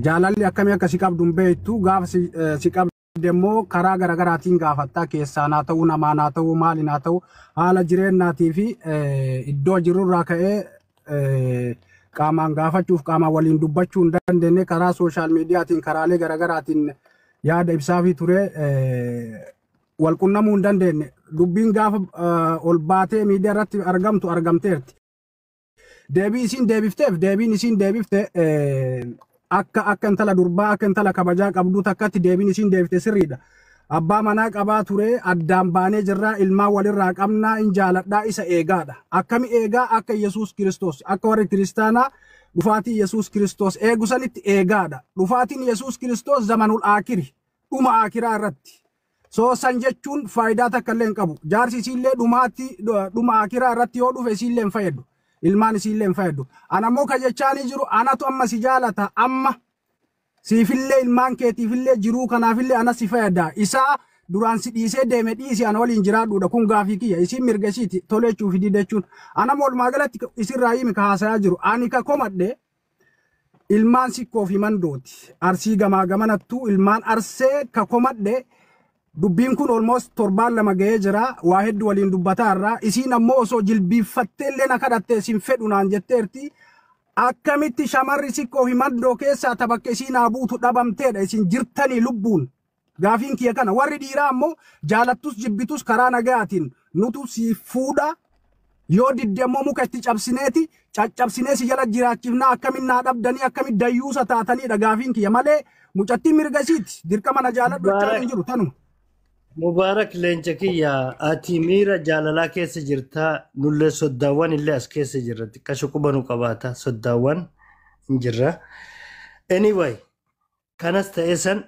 Jaalalli akkamii akka si qabdu hin beektu gaafa si qabde immoo karaa garaagaraatiin gaafattaa keessaan haa ta'uu namaan haa ta'uu maaliin haa ta'uu haala jireennaatii fi iddoo jirurraa ka'ee qaamaan gaafachuuf qaamaan waliin dubbachuu hin dandeenye karaa sooshaal miidiyaatiin karaalee garaagaraatiin yaada ibsaafii ture wal qunnamuu hin dandeenye dubbiin gaafa ol baatee miidiyaa irratti argamtu argamteerti. Deebii isiin deebifteef deebiin isiin deebifte eh, akka akka intala durbaa akka intala kabajaa qabduu takkatti deebiin isiin deebifte sirriidha. Abbaa manaa qabaa ture addaan baanee jirraa ilmaan walirraa qabnaa in jaaladhaa isa eegaadha. Akkami eegaa akka Yesuus Kiristoos akka warri kiristaanaa dhufaatii Yesuus Kiristoos eegu sanitti eegaadha. Dhufaatiin Yesuus Kiristoos zamanul aakiri dhuma aakiraa irratti So san jechuun faayidaa takka illee hin qabu. Jaarsi isiillee dhumaatti dhuma akiraa irratti yoo dhufe isiillee hin fayyaddu. Ilmaan isiillee hin fayyaddu. Ana immoo kan jechaanii jiru anatu amma si jaalata amma siifillee ilmaan keetiifillee jiruu kanaafillee ana si fayyada. Isaa duraan si dhiisee deeme dhiisi ana waliin jiraadhuudha kun gaafii kiyya isiin mirga isiiti toleechuu fi didachuun. Ana immoo walumaa galatti isirraa himi ka haasayaa jiru. Ani ka komadhe Ilmaan Sikkoo fi Mandooti. Arsii gamaa gamanattuu ilmaan Arsee ka komadhe dubbiin kun almost torbaan lama ga'ee jira. Waa heddu waliin dubbataa irraa. Isiin ammoo osoo jilbiiffattee illee na kadhatte isin fedhu naan jetteerti. Akkamitti shamarri Sikkoo fi Mandoo keessaa ta bakka isiin haa buutu dhabamteedha isin jirtanii lubbuun. Gaafiin kiyya kana. Warri dhiiraa ammoo jaalattus jibbitus karaa nagayaatiin nutu si fuudha, yoo didde ammoo muka itti cabsineeti caccabsinee si jala jiraachifnaa akkamiin naa dhabdanii akkamiin dayyuusa taataniidha gaafiin kiyya malee mucattiin mirga isiiti dirqama na jaaladhu jechaan hin Mubaarak, jiru tanuma. Mubaarak leenca kiyya ati miira jaalalaa keessa jirta nullee soddaawwan illee as keessa jirra xiqqasho quba nu qabaata soddaawwan hin jirra. Anyway, kanas ta'e san.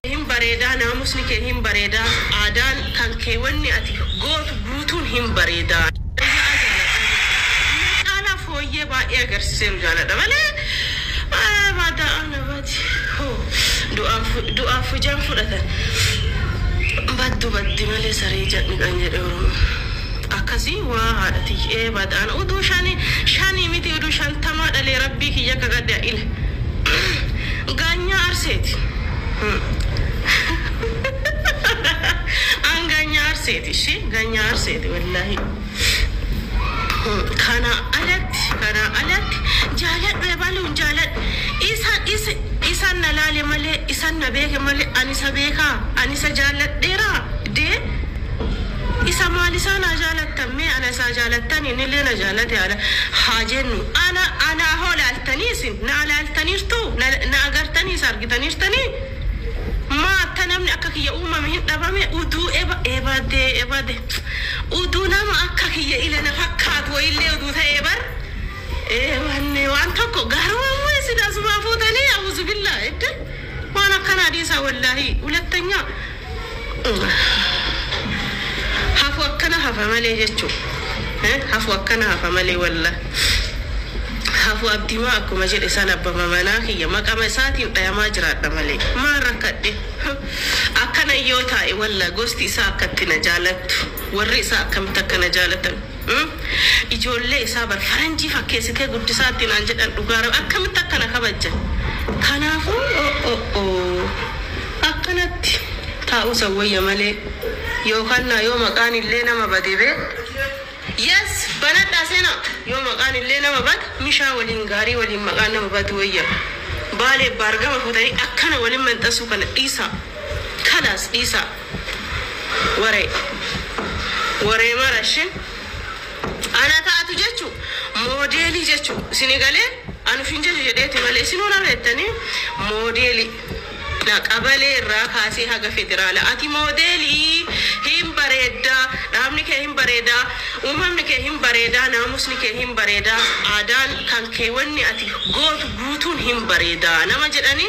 hin bareedaa naamusni kee hin bareedaa aadaan kan kee wanni ati gootu guutuun hin bareedaa. Dhugaa jaaladhaa jechuun na caalaa fooyyee baay'ee agarsiiseeru jaaladha malee baada'aa na badi hoo du'aan du'aaf hujaan fudhatan baddu baddi malee saree jadhni kan jedhe oromoon. Akkasi waa haadha tiyya. Eebad an uduu shani shani miti uduu shantamaa dhalee rabbii kiyya kagadhe aile gaanyaa arseeti an gaanyaa arseeti ishi gaanyaa arseeti wallahii kanaa alatti kanaa alatti jaaladhu ebaluun jaaladhu isa isa isan na laale malee isan na beeke malee an isa beekaa an isa jaalladheeraa dee Isa maal isaa naa jaalattan mee ana isaa jaalattan inillee na jaalate ana haa jennu ana anaa hoo laaltanii isin naa laaltaniirtuu na na agartanii isa argitaniirtanii maa atta namni akka kiyya uumame hin dhabame uduu eba ebade ebade uduu nama akka kiyya ila na fakkaatu wayillee uduu ta'ee bar ee wanni waan tokko garuu ammoo isin asumaa fuutanii auzubillah edda Waan akkanaa dhiisaa wallaahii hulattanyaa hafu akkana hafa malee jechu hafu akkana hafa malee wallah hafu abdimaa akkuma jedhe san abbama manaa kiyya maqama isaatiin dhayamaa jiraadha malee maal rakkadhe akkanan yoo taa'e wallah gosti isaa akkatti na jaalattu warri isaa akkamitti akka na jaalatan Umm ijoollee isaa bar faranjii fakkeesitee guddisaatti naan jedhan dhugaa rabi akkamitti akka na kabajja kanaafuu oo'oo'oo akkanatti taa'uusan wayya malee yookannaa yoo maqaan illee nama bade bee yes banadhaa seenaa yoo maqaan illee nama bade mishaa waliin gaarii waliin maqaan nama badu wayya baaleef baargama fuutanii akkana waliin manxasuu kana dhiisaa kalaas dhiisaa. Waree. Waree mara shin. Ana taatu jechu modeli jechu sini gale anuf hin jaju jedheti male isinu na bettani modeli dha qabale irraa kaasee haga federala ati modeli hin bareedda dhaabni kee hin bareeda uumamni kee hin bareeda naamusni kee hin bareeda aadaan kan kee wanni ati gootu guutuun hin bareeda nama jedhani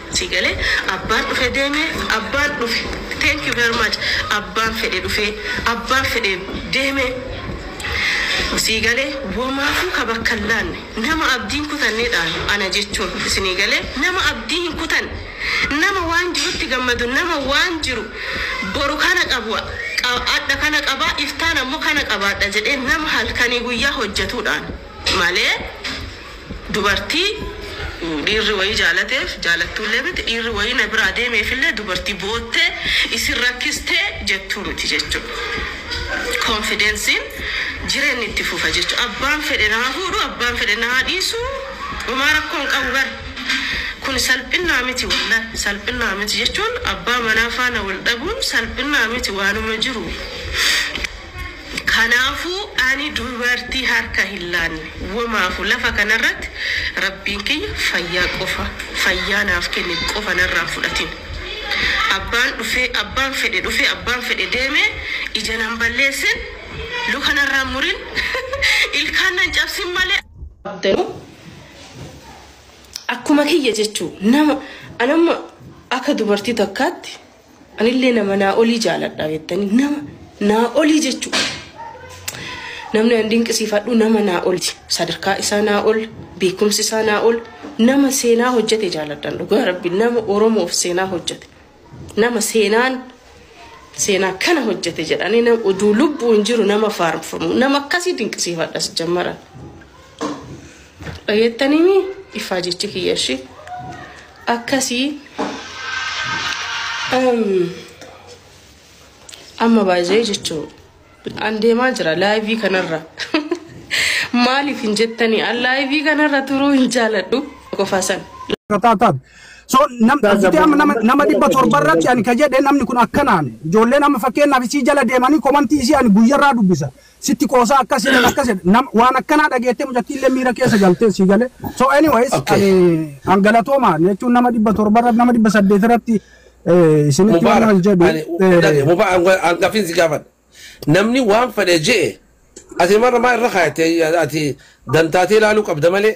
sii gale abbaan dhufe deeme abbaan dhufe thank you very much abbaan fedhe dhufee abbaan fedhe deeme sii gale womaafuu ka bakka hin laanne nama abdii hin kutanne dhaan ana jechuun isinii gale nama abdii hin kutanne nama waan jirutti gammadu nama waan jiru boru kana qaba adha kana qaba iftaan ammoo kana qabaadha jedhee nama halkanii guyyaa hojjetuu dhaan malee Dubartii dhiirri wayii jaalateef, jaalattuullee miti, dhiirri wayii na biraa deemeefillee dubartii boottee isin rakkistee jettuu miti jechuudha. Konfidensiin jireenni itti fufa jechuudha. Abbaan fedhe na haa fuudhu, abbaan fedhe na haa dhiisu homaa rakkoo hin qabu bar. Kun salphinnaa miti wallahi, salphinnaa miti jechuun abbaa manaa faana wal dhabuun salphinnaa miti waanuma jiru. Kanaafuu ani dubartii harka hin laanne womaafu lafa kanarratti Rabbiin kiyya fayyaa qofa fayyaa naaf kenne qofa narraa hin fudhatin. Abbaan dhufee abbaan fedhe dhufee abbaan fedhe deemee ija nan balleessin, luka narraa hin murin, ilkaan nan cabsin malee, abdanuu akkuma kiyya jechuu nama an amma akka dubartii takkaatti Anillee nama naa olii jaaladha beektanii nama naa olii jechuudha. Namni an dinqisiifadhu nama naa olti. Sadarkaa isaa naa ol, beekumsi isaa naa ol, nama seenaa hojjete jaaladhan dhugaa rabbi nama Oromoof seenaa hojjete. Nama seenaan seenaa kana hojjete jedhanii nama oduu lubbuu hin jiru nama faarfamu nama akkasii dinqisiifadha sijjammaran. dhageettanimi ifaa jechi kiyya ishi akkasii amma baay'ee jechuu an deemaa jira laayivii kanarra maaliif hin jettanii an laayivii kanarra turuu hin jaaladhu qofaa san. Taataat. So nam fitee amma nama nama dhibba torba irratti ani ka jedhe namni kun akkanaan ijoolleen amma fakkeenyaaf isii jala deemanii komantii isii ani guyyarraa dubbisa. sitti qoosaa akkas jedhan akkas jedhan nam waan akkanaa dhageettee mucattiin illee miira keessa galtee sii galee so anyways Okay. ani an galatoomaa jechuun nama dhibba torba irratti nama dhibba saddeet irratti eh, isinitti waan Mubaarak, wal jedhu ani- eh, dhage- Mubaarak, an- an gaaffiin si gaafadha. Namni waan fedhe je'e ati marra maa irra kaayate ati dantaatee ilaaluu qabda malee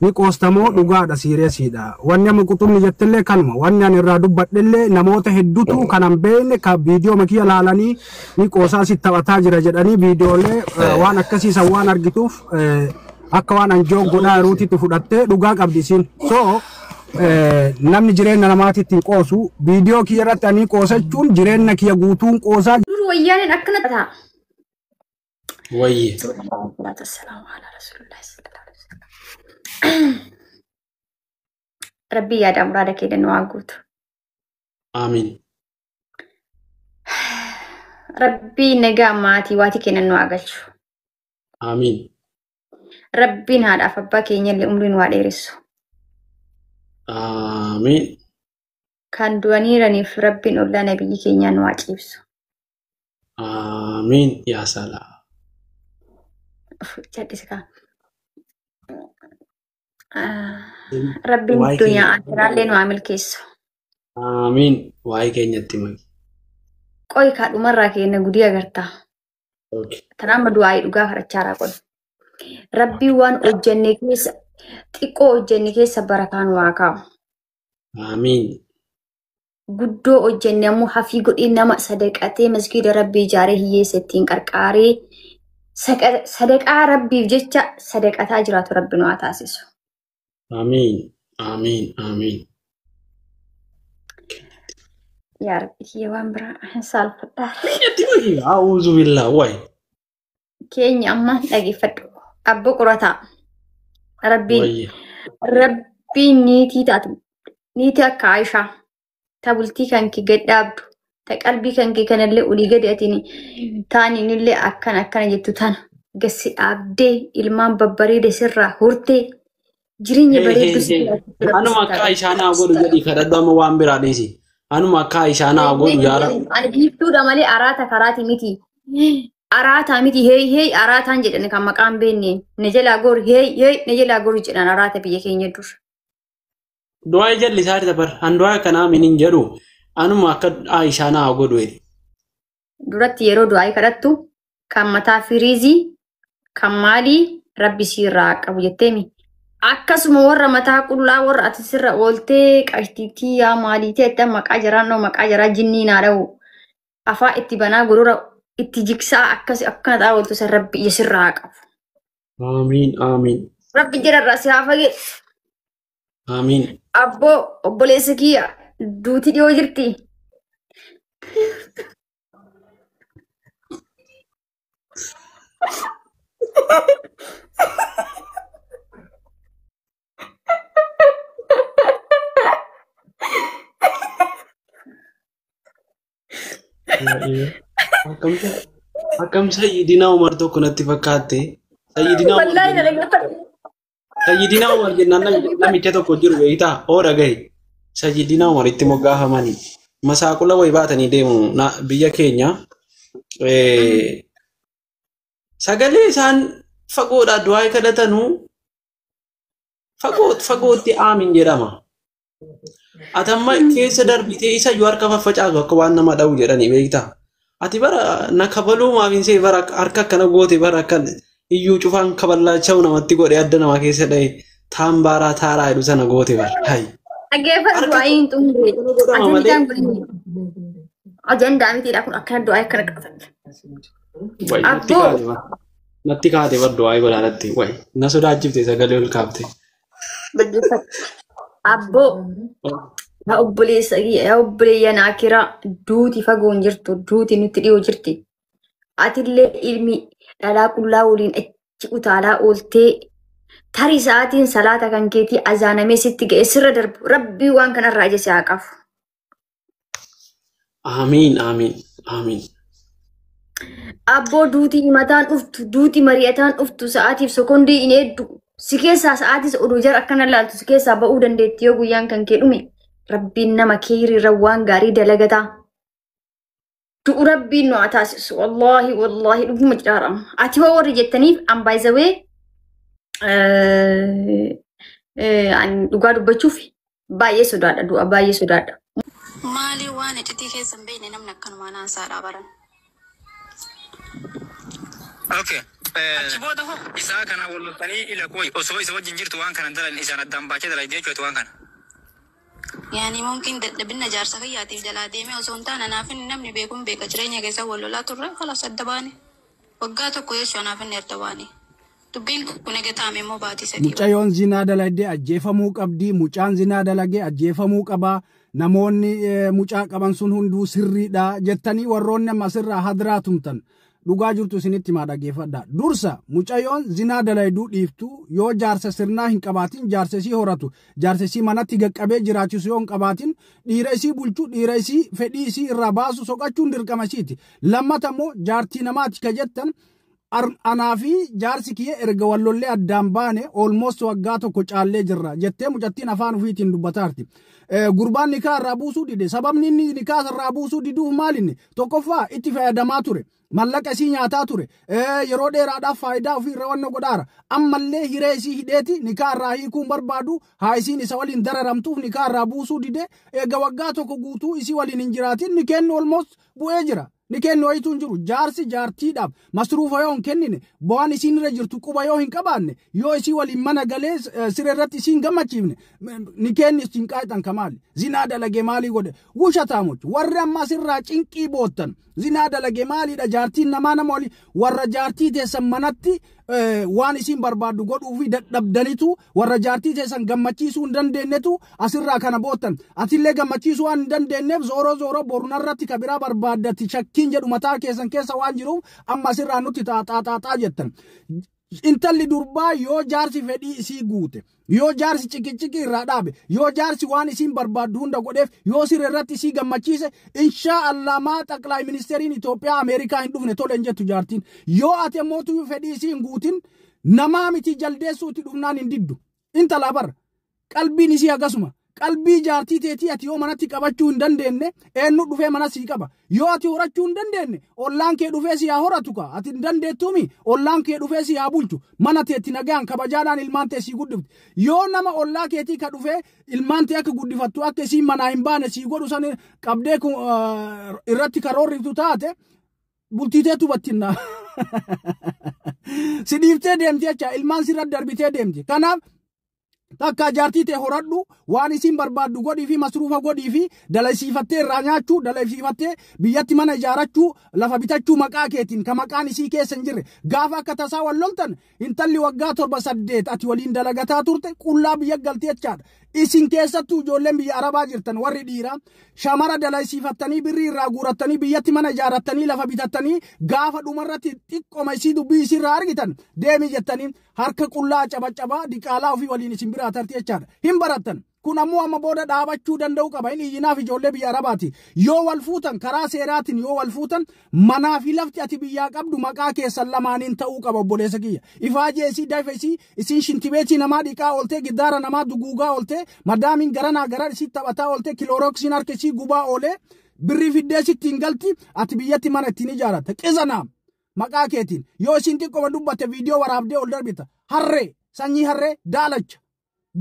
Ni qoosta moo dhugaadha siiriyasiidha. Wanni amma quxumni jettellee kanuma. Wanni ani irraa dubbadhellee namoota heddutu kan an beekne ka viidiyooma kiyya laalanii ni qoosa asitti taphataa jira jedhanii viidiyoolee eh, waan akkasii san waan argituuf eh, akka waan an joog godhaa jiruutitti fudhattee dhugaa qabdi isiin. So eh, namni jireenya namaatitti hin qoosu viidiyoo kiyya irratti ani qoosa jechuun jireenya kiyya guutuun qoosaa Dur wayyaaneen akkana ta'a. Wayye. Salaatu wassalaamu alaa rasuulillahi sallallahu alaihi wasallam. Rabbii yaada muraada kee nu haa guutu. Aamiin. Rabbii nagaa maatii waatii kennan nu haa galchu. Aamiin. Rabbiin haadhaaf abbaa keenya illee umrii nu haa dheeressu. Aamiin. Kan du'aniiraniif Rabbiin ollaa nabiyyi keenyaa nu haa ciibsu. Aamiin yaa salaa. Cadhisikaa. Rabbiin Waa'ee addunyaa keenya- akiraallee nu haa milkeessu. Aamiin waa'ee keenyatti mali. Qoy kaa dhumarraa keenna gudii agartaa. Okay. Tanaamma du'aa'ii dhugaa kadhachaa irraa qoy. Rabbiin waan hojjenne keessa xiqqoo hojjenne keessa barakaa nu haa kaa'u. Aamiin. guddoo hojjenne ammoo hafii godhee nama sadaqatee masgiida rabbii ijaaree hiyyeessa ittiin qarqaaree saqa- sadaqaa rabbiif jecha sadaqataa jiraatu rabbi nu haa taasisu. Amiin. Amiin. Amiin. Yaa rabbi kiyya waan biraa hin saalfadhaa. Miidhatti wayii. A'uuzu billaa wayi. keenya amma dhageeffadhu. Abbo qurataa. Rabbiin Wayya. Rabbiin niitii taatu niitii akka Aishaa ta bultii kan kee gad dhaabdu ta qalbii kan kee kanallee olii gadi atiin taaninillee akkana akkana jettu tana gassi dhaabdee ilmaan babbareeda sirraa hortee Jireenya bareedduu si jiraachuu Anuma akka rabbi isaan haa godhu jedhi kadhadhu amma waan biraa dhiisi. Anuma akka isaan haa godhu yaa Rabbi. Ani biiftuudha malee araata karaati miti. Araataa miti heey heey araataan jedhan kan maqaan beenne. Na jalaa goor heey heey na jalaa goor jedhan araata biyya keenya dur. Du'aa jalli isaa dabar. An du'aa akkanaa min hin jedhu. Anuma akka isaan haa godhu jedhi. duratti yeroo du'aa'ii kadhattu kan mataa firiizii kan maalii rabbi sii irraa haa qabu jetteemi. Akkasuma warra mataa qullaa warra ati sirra ooltee qashtiitii yaa maaliitee itti maqaa jaraan dhoo maqaa jaraa jinnii naa dha'u afaa itti banaa gurura itti jigsaa akkas akkana ta'aa ooltu san rabbi ija sirraa haa qabu. Aamiin aamiin. Rabbi jira irraa si haa fageessu. Aamiin. Abboo obboleessa kiyya duuti dhiyoo jirti. Akkamsa akkamsa idina Umar tokko natti fakkaatte. Sayyidina Umar Wallaahi na dhaggeeffadhu. Sayyidinaa Umar jennaan nami- namicha tokko jiru beektaa hoo dhagahi. Sayyidinaa Umar itti moggaafamanii masaaqula wayi baatanii deemu na- biyya keenya. Eh, Sagalee isaan fagoodhaa du'aa kadhatanuu fagoo fagootti aamin jedhama. Ati amma keessa darbitee isa iyyuu harka faffacaatu akka waan nama dha'u jedhanii beektaa? Ati bara na kabaluu maaf hin see bara akka- harka akkana goote bara akka iyyuu cufaan kaballaacha'u namatti godhe adda namaa keessa dha'e taan baaraa taaraa jedhu sana goote bara. Hayi. Dhaggeeffadhu Harka- du'aa hin xumure. Kana godhama malee. Ajandaan kun inni. Ajandaa mitiidha kun akkana du'aa akkana qabatan. Wayi, natti Abboo. kaate bara. Natti kaate bara du'aa godhaadhatti. Wayi, na sodaachifte sagalee ol kaafte. Dhaggeeffadhu. Abboo yaa obboleessa yaa obboleeyyan akiraa duuti fagoo hin jirtu duuti nutti dhiyoo jirti. Atillee ilmi dhalaa qullaa waliin achi utaalaa ooltee tarii sa'aatiin salaata kan keetii azaanamee sitti ga'e sirra darbu rabbii waan kanarraa ija si haa qabu. Aamiin aamiin aamiin. Abboo duutii himataan dhuftu, duutii mari'ataan dhuftu, sa'aatiif sekondii hin eeddu. Si keessaa sa'aatis oduu jara akkana laaltu si keessaa ba'uu dandeetti yoo guyyaan kan kee dhume. Rabbiin nama keeyriirra waan gaarii dalagataa. du'u rabbiin nu haa taasisu wallaahi wallaahi dhuguma jedhaaramu ati hoo warri jettaniif an baay'isawee dhugaa dubbachuuf baay'ee sodaadha du'a baay'ee sodaadha. Maalii waan iccitii keessa hin beekne namni akkanumaa naan saadhaa baran. Okay. Achi booda hoo isaa kana wal loltanii ila kooyi osoo isa wajjin jirtu waan kana dalan isaan addaan baachee dalayde jechuudha waan kana. Yaani mumkin dadhabinna jaarsa kiyyaatif jalaa deemee osoo hin taane anaaf inni namni beeku hin beeka jireenya keessa wal lolaa turre khalas adda baane waggaa tokko jechu anaaf inni adda baane dubbiin kun ega taame immoo baatii sadii ol. Mucayoon zinaa dalayde ajjeefamuu qabdi mucaan zinaa dalage ajjeefamuu qaba namoonni mucaa qaban sun hunduu sirriidha jettanii warroonni amma asirraa hadraa tumtan Dhugaa jirtu isinitti himaa dhaggeeffadhaa. Dursa mucayoon zinaa dalayduu dhiiftuu yoo jaarsa sirnaa hin qabaatin jaarsa isii horatu jaarsa isii manatti gaqqabee jiraachisu yoo hin qabaatin dhiira isii bulchu dhiira isii fedhii isii irraa baasu soqachuun dirqama isiiti. Lammata immoo jaartii namaati ka jettan anaa fi jaarsi kiyya erga wallollee addaan baane olmost waggaa tokko caallee jirra jettee mucattiin afaan ofiitiin dubbataarti. Gurbaan nikaa irraa buusuu dide sababni inni nikaa irraa buusuu diduuf maalinni Tokkoffaa itti fayyadamaa ture. Mallaqa isii nyaataa ture. Yeroo dheeraadhaaf faayidaa ofii irra wanna godhaara. Ammallee hiree isii hidheeti nikaa irraa hiikuun barbaadu haa isiin isa waliin dararamtuuf nikaa irraa buusuu dide eega waggaa tokko guutuu isii waliin hin jiraatin nikeenni olmoos bu'ee jira. Nikeenni wayituu hin jiru. Jaarsi jaartiidhaaf Masruufa yoo hin kennine, bu'aan isiin irra jirtu quba yoo hin qabaanne, yoo isii waliin mana galee siree irratti isiin gammachiifne, nikeenni isin qaayxan ka maali? Zinaa dalage maalii godhe? Wushataamochi, warri amma asirraa cinqii boottan, zinaa dalage maaliidha jaartiin namaa nama wali warra jaartii teessan manatti waan isiin barbaaddu godhuufi dadhabdanitu Warra jaartii teessan gammachiisuu hin dandeennetu asirraa kana boottan. Atillee gammachiisuu waan hin dandeenneef zooroo zooroo boru narratti ka biraa barbaaddatti shakkiin jedhu mataa keessan keessa waan jiruuf amma asirraa nutti xaaxaaxaaxaa jettan. Intalli durbaa yoo jaarsi fedhii isii guute, yoo jaarsi ciqiciqii irraa dhaabe, yoo jaarsi waan isiin barbaaddu hunda godheef, yoo siree irratti isii gammachiise, inshaa Allah maa xaqlaay ministeeriin Itoophiyaa Ameerikaa hin dhufne tole hin jettu jaartiin. Yoo ati ammoo tuyuu fedhii isii hin guutin, Namaa mitii jaldeessuu itti dhufnaan hin diddu. Intalaa bar. Qalbiin isii hagasuma. Qalbii jaartii teetii ati yoo manatti qabachuu hin dandeenne eennu dhufee mana sii qaba. Yoo ati horachuu hin dandeenne ollaan kee dhufee si haa horatu kaa ati hin dandeettuumi ollaan kee dhufee si haa bulchu. Mana teetti nagaan kabajaadhaan ilmaan tee sii guddifti. Yoo nama ollaa keetii ka dhufee ilmaan tee akka guddifattu akka isiin manaa hin baane sii godhu san qabdee irratti karoorriftu taate bultii teetu battinnaa. si dhiiftee deemti jecha ilmaan sirra darbitee deemti. Kanaaf takka jaartii tee horadhu waan isiin barbaaddu godhii fi masruufa godhii fi dalaysiifattee irraa nyaachuu dalaysiifattee biyyatti mana ijaarachuu lafa bitachuu maqaa keetiin ka maqaan isii keessa hin jirre gaafa akka tasaa wal loltan Intalli waggaa torba saddeet ati waliin dalagataa turte qullaa biyya galti jechaadha. Isin keessattuu ijoolleen biyya Arabaa jirtan warri dhiiraa shamara dalaysiifattanii birrii irraa guurattanii biyyatti mana ijaarrattanii lafa bitattanii gaafa dhumarratti xiqqoma isii dubbii isiirraa argitan deemii jettanii harka qullaa cabacabaa diqaalaa ofii waliin isin biraa tarti jechaadha. Hin barattan. Kun ammoo amma booda dhaabachuu danda'uu qaba. Inni iyyinaaf ijoollee biyya Arabaati. Yoo wal fuutan karaa seeraatiin yoo wal fuutan manaa fi lafti ati biyyaa qabdu maqaa keessan lamaaniin ta'uu qaba obboleessa kiyya. Ifaajee isii daifa isii isiin shintibeetii namaa dhiqaa ooltee giddaara namaa duguugaa ooltee madaamiin garanaa garan isii taphataa ooltee kiloorooksiin harka isii gubaa oolee birrii fiddee sitti hin galti ati biyyatti mana ittiin ijaarratta. Qizanaam maqaa keetiin yoo isiin xiqqoma dubbatte viidiyoo waraabdee ol darbita. Harree sanyii harree daalacha.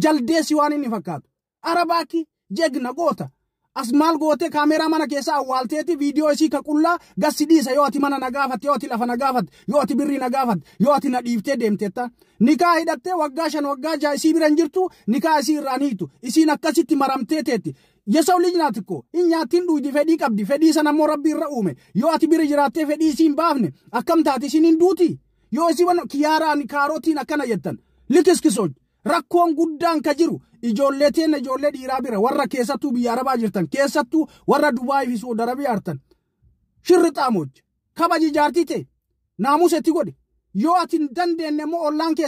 jaldeessi waan inni fakkaatu. Arabaakki jegna goota. As maal gootee kaameeraa mana keessaa awwaalteeti viidiyoo isii ka qullaa gassi dhiisa yoo ati mana na gaafatte yoo ati lafa na gaafatte yoo ati birrii na gaafatte yoo ati na dhiiftee deemtetta. Nikaa hidhattee waggaa shan waggaa ja'a isii bira hin jirtu nikaa isii irraa ni hiitu. Isiin akkasitti maramtee teetti. Yesaw lij naat ko hin nyaatti hin dhuuydi fedhii qabdi fedhii sana immoo rabbi irra uume yoo ati bira jiraattee fedhii isii hin baafne akkam taati isiin hin duutii? Yoo isin waan kiyaaraan kaarotiin akkana jettan likiskisoon rakkoon guddaan ka jiru ijoollee teenya ijoollee dhiiraa bira warra keessattuu biyya arabaa jirtan keessattuu warra Dubaayii fi Suud Arabiyaa artan shirri xaamooj kabaji jaartii tee naamusa itti godhi yoo ati hin dandeenye immoo ollaan kee